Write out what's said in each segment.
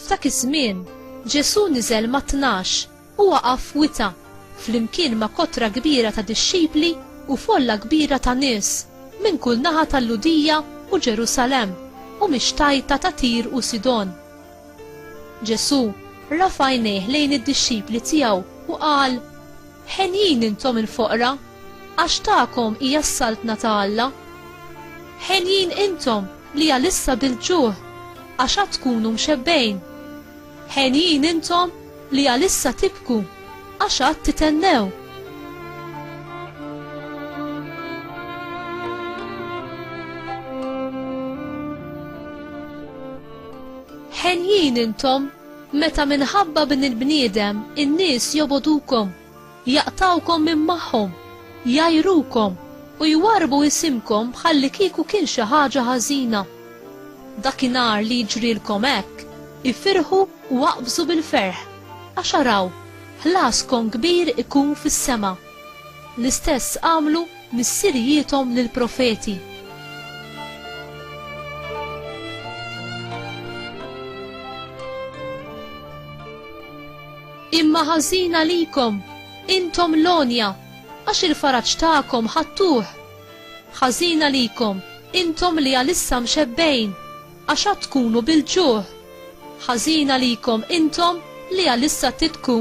F'dak iż-żmien, Ġesù niżel ma' tnax u waqaf wita flimkien ma' kotra kbira ta' dixxipli u folla kbira ta' nies minn kull naħa tal-Ludija u Ġerusalemm u mix-xtajta ta' Tir u Sidon. Ġesù rafa' għajnejh lejn id-dixxipli tiegħu u qal, Henjin intom il-foqra, għax tagħkom hija s-saltna ta' Alla. Henjin intom li għalissa bil-ġuħ, għax għad tkunu mxebbgħin. Henjin intom li għalissa tibku, għax għad titennew. Ħenjin intom meta minħabba bin il-bniedem in-nies jobodukom, jaqtawkom minn magħhom, jgħajrukom u jwarrbu isimkom bħalli kieku kien xi ħaġa ħażina. Dakinhar li jiġrilkom hekk, ifirħu u aqbżu bil-ferħ, għax araw, ħlaskom kbir ikun fis-sema. L-istess għamlu missirijiethom lill-profeti. Imma ħażin għalikom, intom l-għonja, għax il-faraġ tagħkom ħadtuh. Ħażin għalikom, intom li għalissa mxebbejn, għax għad tkunu bil-ġuħ. Ħażin għalikom intom li għalissa tibku.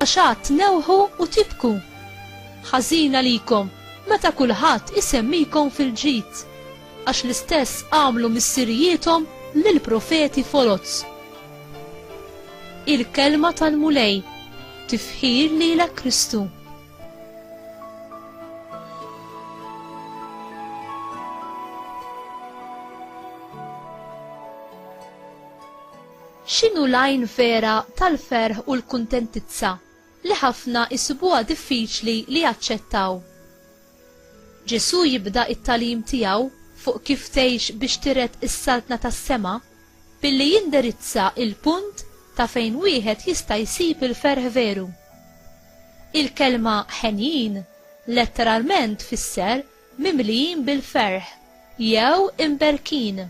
Għax għad tnewħu u tibku! Ħażin għalikom meta kulħadd isemmikom fil-ġid, għax l-istess għamlu missirijiethom lill-profeti foloz. Il-Kelma tal-Mulej, tifħir lilek Kristu. X'inhu l-għajn vera tal-ferħ u l-kuntentizza li ħafna jsibuha diffiċli li jaċċettaw? Ġesù jibda t-tagħlim tiegħu fuq kif tgħix biex tiret is-Saltna tas-sema billi jindirizza l-punt ta' fejn wieħed jista' jsib il-ferħ veru. Il-kelma ħenjin letteralment tfisser mimlijin bil-ferħ jew imberkin.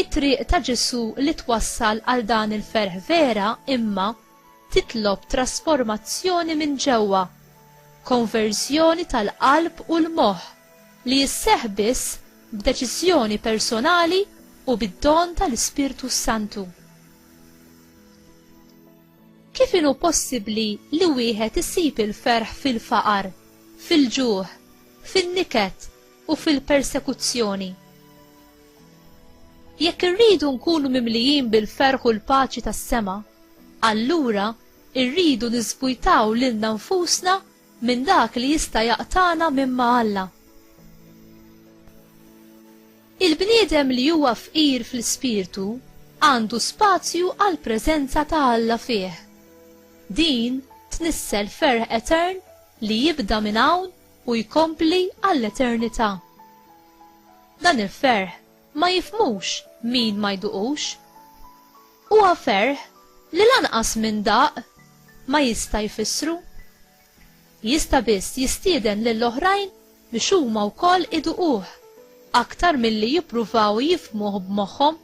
It-triq ta' Ġesù li twassal għal dan il-ferħ vera, imma, titlob trasformazzjoni minn ġewwa, konverżjoni tal-qalb u l-moħħ, li sseħħ biss b'deċiżjoni personali u bid-don tal-Ispirtu s-Santu. Kif inhu possibbli li wieħed isib il-ferħ fil-faqar, fil-ġuħ, fin-niket, u fil-persekuzzjoni. Jekk irridu nkunu mimlijin bil-ferħ u l-paċi tas-sema, allura irridu niżvujtaw lilna nfusna minn dak li jista' jaqtagħna minn ma' Alla. Il-bniedem li huwa fqir fl-ispirtu għandu spazju għall-preżenza ta' Alla fih. Din tnissel ferħ etern li jibda minn hawn u jkompli għall-eternità. Dan il-ferħ ma jifhmux min ma jduqux. Huwa ferħ li lanqas min daq ma jista' jfissru. Jista' biss jistieden lil oħrajn biex huma wkoll iduquh aktar milli jippruvaw jifhmuh b'moħħhom.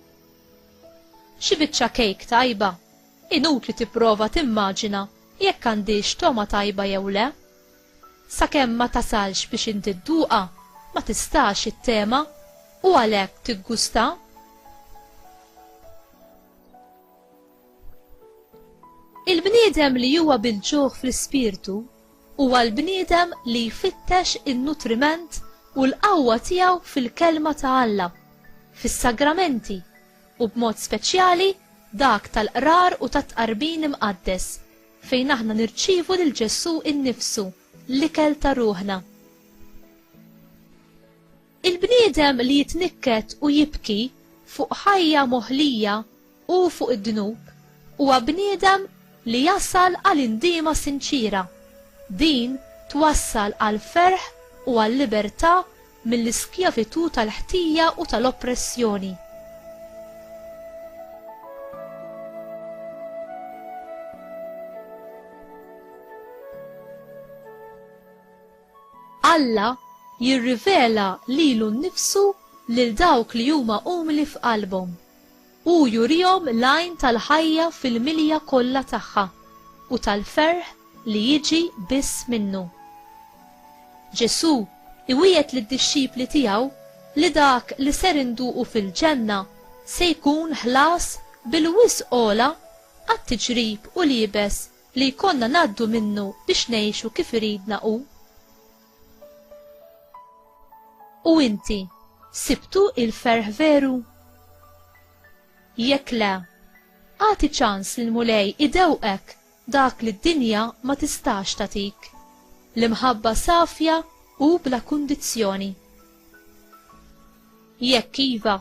Xi biċċa kejk tajba, inutli tipprova timmaġina jekk għandhiex togħma tajba jew le. Sakemm ma tasalx biex inti dduqha, ma tistax ittema, u għalhekk tiggustha. Il-bniedem li huwa bil-ġuħ fl-ispirtu huwa l-bniedem li jfittex in-nutriment u l-qawwa tiegħu fil-Kelma ta' Alla, fis-sagramenti, u b'mod speċjali dak tal-qrar u tat-tqarbin imqaddes, fejn aħna nirċievu lil Ġesù innifsu, l-ikel ta' ruħna. Il-bniedem li jitnikket u jibki fuq ħajja moħlija u fuq id-dnub huwa bniedem li jasal għal indiema sinċiera. Din twassal għal ferħ u għal libertà mill-iskjavitù tal-ħtija u tal-oppressjoni. Alla jirrivela lilu nnifsu lil dawk li huma umli f'qalbhom. Hu jurihom l-għajn tal-ħajja fil-milja kollha tagħha u tal-ferħ li jiġi biss minnu. Ġesù iwiegħed lid-dixxipli tiegħu li dak li ser induqu fil-Ġenna se jkun ħlas bil-wisq għola għat-tiġrib u l-iebes li jkollna ngħaddu minnu biex ngħixu kif iridna hu. U inti, sibtu il-ferħ veru? Jekk le, agħti ċans li l-Mulej idewqek dak li d-dinja ma tistax tagħtik, l-imħabba safja u bla kundizzjoni. Jekk iva,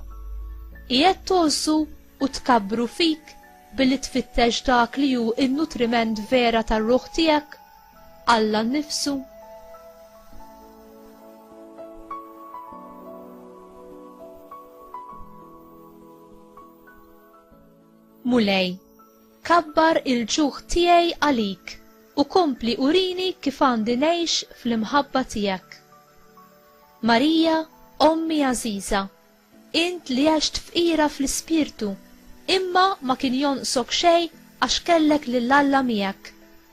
qiegħed togħżu u tkabbru fik billi tfittex dak li hu n-nutriment vera tar-ruħ tiegħek, Alla nnifsu? Mulej, kabbar il-ġuħ tiegħi għalik u kompli urini kif għandi ngħix fl-imħabba tiegħek. Marija, ommi għażiża, int li għext fqira fl-ispirtu, imma ma kien jonqsok xejn għax kellek lil Alla miegħek,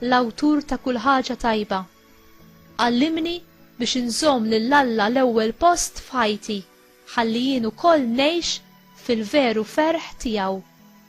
l-awtur ta' kull ħaġa tajba. Għallimni biex inżomm lil Alla l-ewwel post f'ħajti, ħalli jien ukoll ngħix fil-veru ferħ tiegħu.